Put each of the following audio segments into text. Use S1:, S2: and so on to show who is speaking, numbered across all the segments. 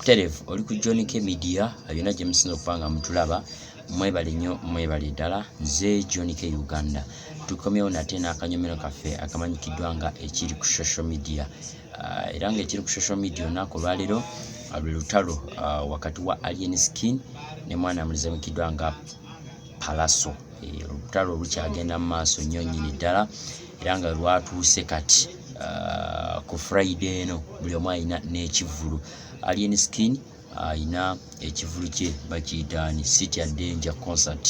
S1: Terevu oli ku John K Media yonna gye musinza okuba nga mutulaba mwebale nnyo mwebale ddala nze John K Uganda tukomyewo nate n'akanyomero kaffe akamanyikiddwa nga ekiri ku social media ah, era nga ekiri ku social media olunaku olwaleero ah, lwe lutalo ah, wakati wa Alien Skin ne mwana amulizamikiddwa nga palaso eh, olutalo lukyagenda mu maaso nnyo nnyini ddala era nga lwatuuse kati ah, ku friday eno buli omu alina n'ekivulu alien skin alina ekivulu kye bakiyita ni city a danger concert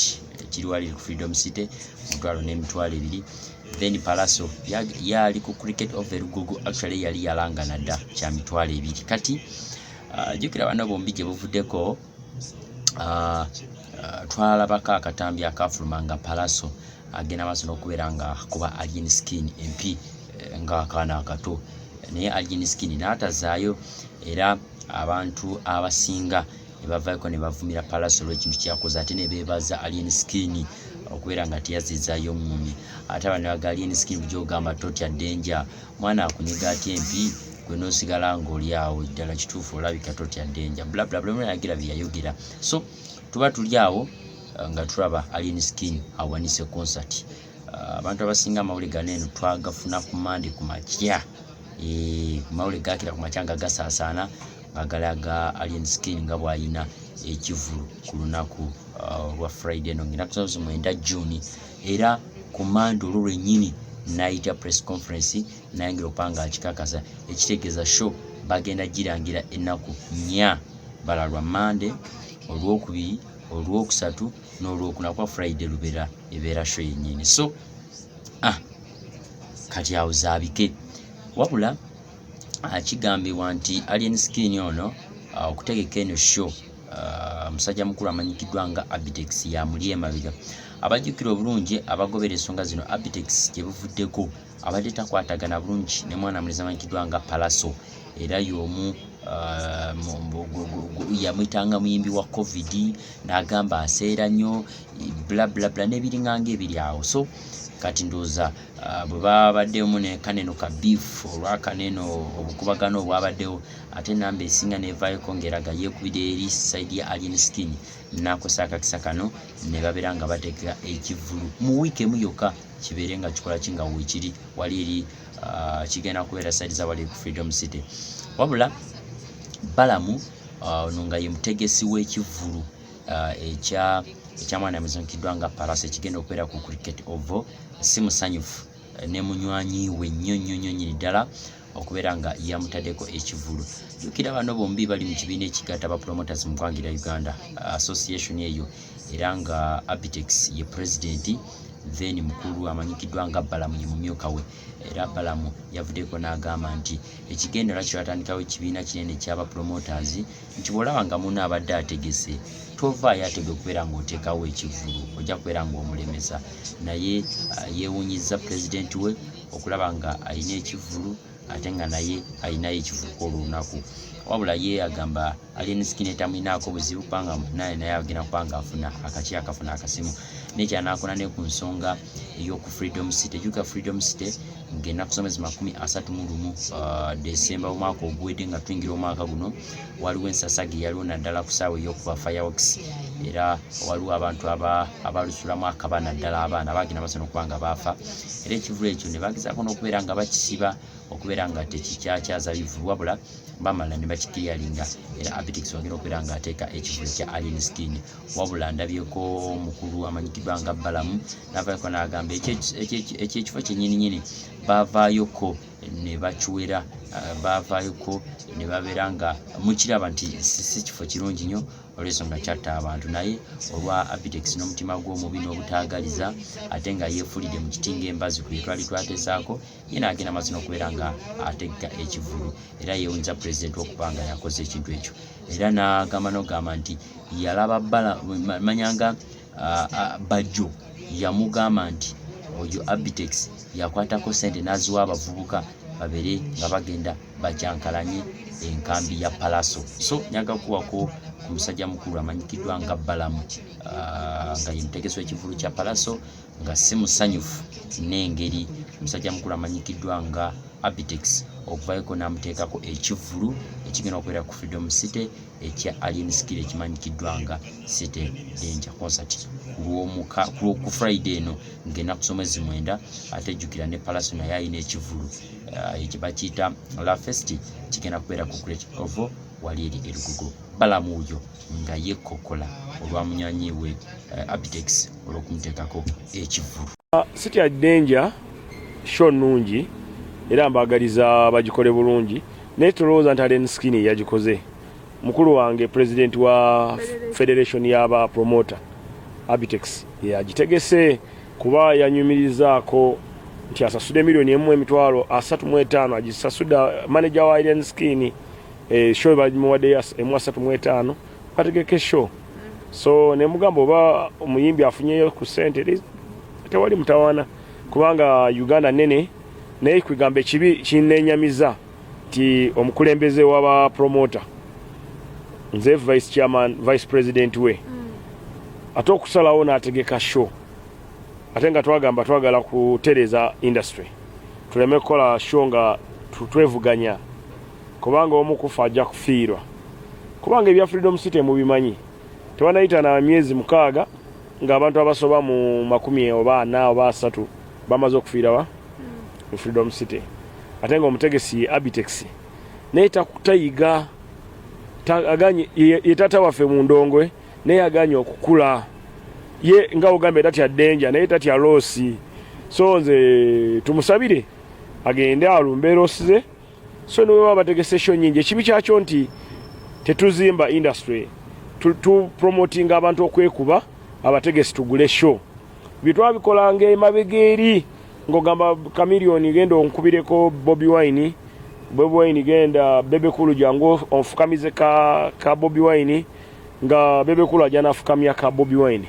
S1: kiri wali ku freedom city omutwalo n'emitwalo ebiri then palaso yali ku cricket of elugogo actually yali yalangana dda kya mitwalo ebiri kati ah, jukira bano bombi gye buvuddeko ah, ah, twalabako akatambi akafuluma nga palaso agenda maaso n'okubeera nga kuba alien skin empi eh, ng'akaana akato naye alien skin n'atazaayo era abantu abasinga nebavayoko nebavumira palaso olwekintu kyakoze ate nebebaza alien skin okubeera nga teyazizayo mumi ate abana baga alien skin bujogamba totya denja mwana akunyiga atya empi gwe nosigala ngaoli awo ddala kituufu olabika totya denja blablablaagira byeyayogera so tuba tuli awo uh, nga tulaba alien skin awanise concert uh, abantu abasinga amawulire gano eno twagafuna ku mande ku makya eh, mawulire gakira ku makya nga gasaasaana nga galaga alien skin nga bwalina ekivulu ku lunaku uh, lwa friday eno ngaenaku zao zimwenda juni era ku mande olwo lwennyini nayita press conference nayingira okupanga akikakasa ekitegeeza show bagenda girangira ennaku nya bala lwa mande olwokubiri olwokusatu n'olwokuna kuba friday lubera ebeera sho yennyini so ah, kati awo zaabike wabula ah, kigambibwa nti alien skin ono ah, okutegeka eno show Uh, musajja mukulu amanyikiddwa nga abitex yamuli emabega abajjukira obulungi abagobera ensonga zino abitex gye buvuddeko abadde takwatagana bulungi ne mwana mulezi amanyikiddwa nga palaso era y'omu uh, yamwitanga muyimbi wa covid n'agamba aseera nnyo blablabla n'ebiringanga ebiri awo so kati ndooza uh, bwe babaddemu ne kaneno ka beef olwa kaneno obukubagano obwabaddewo ate namba esinga nevaayoko ngaeraga yekubira eri side ya alien skin nakosa akakisa kano nebabeera nga bateka ekivulu mu wiiki emu yokka kibeere nga kikola ki nga wekiri wali eri uh, kigenda kubeera side za wali ku freedom city wabula balamu uh, ono nga ye mutegesi w'ekivulu uh, ekya ekyamwana muzunkiddwa nga paras ekigenda okubeera ku cricket ovo si musanyufu ne munywanyi we nnyo nnyo nnyo nyini ddala okubeera nga yamutaddeko ekivulu jukira bano bombi bali mu kibiina ekigatta aba promoters mu ggwanga erya uganda association eyo era nga abitex ye pulezidenti then mukulu amanyikiddwa nga balamu ye mumyuka we era balamu yavuddeko n'agamba nti ekigendera kyo yatandikawo ekibiina kinene kyaba promoters nti bw'olaba nga munno abadde ategese tovaayo atega okubeera ng'oteekawo ekivvulu ojja kubeera ng'omulemesa naye uh, yeewunyizza pulezidenti we okulaba nga alina ekivvulu ate nga naye alinayo ekivvulu kw'olunaku wabula ye agamba alien skin etamulinaako buzibu kubanga naye naye agenda kuba nga afuna akaki akafuna akasimu naye kyanakola ne ku nsonga ey'oku freedom city juka freedom city ng'ennaku z'omwezi makumi asatu mu lumu uh, desemba omwaka oguwedde nga tuyingira omwaka guno waliwo ensasage eyaliwo naddala ku saawa ey'okuba firewox era waliwo abantu abalusulamu akaba naddala abaana bagenda basana okuba nga baafa era ekivulu ekyo ne bagezaako n'okubeera nga bakisiba okubeera nga tekikyakyaza bivu wabula bamala ne bakikiriyalinga era abitix wagenda okubeera ng'ateeka ekivulu kya alien skin wabula ndabyeko mukulu amanyikidwa nga balamu navayoko nagamba ekyekifo kyenyininyini bavayoko nebakiwera eh, bavayoko nebabeera nga mukiraba nti si kifo kirungi nyo olwensonga kyatta abantu naye olwa abitex n'omutima gw'omubi n'obutaagaliza ate nga yeefulidde mu kiti ngaembazi kwe twali twatesaako ye n'agenda mazina okubeera nga ategga ekivulu era yewunza pulezidenti okuba nga yakoze ekintu ekyo era n'agamba n'ogamba nti yalaba bala manyanga bajjo yamugamba nti oyo abitex yakwatako sente n'aziwa abavubuka babere nga bagenda bajankalanye enkambi ya palaso so nyaga kuwako ku musajja mukulu amanyikiddwa nga balamu nga ye mutegesi w'ekivulu kya palaso nga si musanyufu n'engeri omusajja mukulu amanyikiddwa nga Abitex okuvayoko n'amuteekako ekivvulu ekigenda okubeera ku Freedom City ekya Alien Skill ekimanyikiddwa nga City Danger Concert kulwomuka ku Friday eno ng'enaku z'omwezi mwenda ate jjukira ne Palaso naye alina ekivvulu eh, ekyo bakiyita La Festi kigenda kubeera ku Great Ovo wali eri erugugo balamuuyo nga yekkokola olwa munywanyi we eh, Abitex olw'okumuteekako ekivvulu. Ah, City at
S2: Danger show nnungi era mbaagaliza bagikole bulungi naye tolowooza nti Allen Skinny yagikoze. Mukulu wange pulezidenti wa federation y'aba promoter Abitex yagitegese kuba yanyumirizaako nti asasude miliyoni emu emitwalo asatu mu etaano agisasuda maneja wa Allen Skinny eh, show bagimuwadde ya emu asatu mu etaano bategeke show so ne mugamba oba omuyimbi afunyeyo ku sente tewali mutawaana kubanga uganda nene naye kwegamba ekibi kinenyamiza nti omukulembeze waba promoter nze vice chairman vice president we mm. ate okusalawo nategeka show ate nga twagamba twagala kutereza industry tuleme kukola show nga twevuganya kubanga omu kufa ajja kufiirwa kubanga ebya freedom city mubimanyi tebanayita na myezi mukaaga ng'abantu abasoba mu makumi oba ana oba asatu bamaze okufiirawa mu freedom city ate nga omutegesi ye abitex naye tayiga ye tata waffe mu ndongwe naye aganye okukula ye nga ogambye tatya denja naye tatya loosi so nze tumusabire agende alumbe loosi ze so ne bwebaba bategese sho nyingi ekibi kyakyo nti tetuzimba industry tupromotinga abantu okwekuba abategesi tugule sho byetwabikolanga emabega eri ng'ogamba kamiliyoni genda onkubireko bobi wine bobi wine genda bebekulu jangu onfukamize ka, ka bobi wine nga bebekulu ajana afukamya ka bobi wine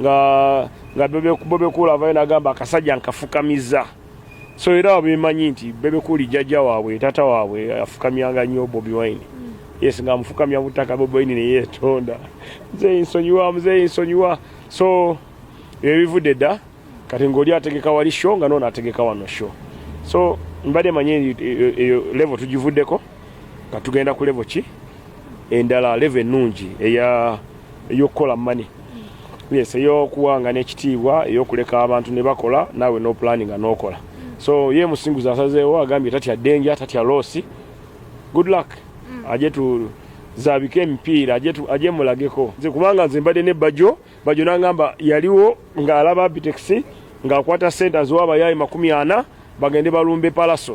S2: nga nga bebekulu avayo nagamba akasajja nkafukamiza so era bemanyi nti bebekuli jajja waabwe tata waabwe afukamyanga nnyo bobi wine yes nga amufukamya butaka bobi wine neyetonda nze nsonyiwa mzee nsonyiwa so ebivudde dda kati ngaoli ategeka wali sho nga noona ategeka wano sho so mbadde manyi e, e, eyo levo tugivuddeko nga tugenda ku levo ki endala levo ennungi eya eyokukola mani yes eyokuwanga n'ekitiibwa eyokuleka abantu ne bakola naawe n'opulaninga n'okola so ye musinguzi asazeewo agambye tatya denja tatya loosi good luck mm. aje tu zabike emipiira aje mulageko nze kubanga nze mbadde ne bajo bajo nangamba yaliwo ng'alaba abitex ng'akwata sente aziwa abayaayi makumi ana bagende balumbe palaso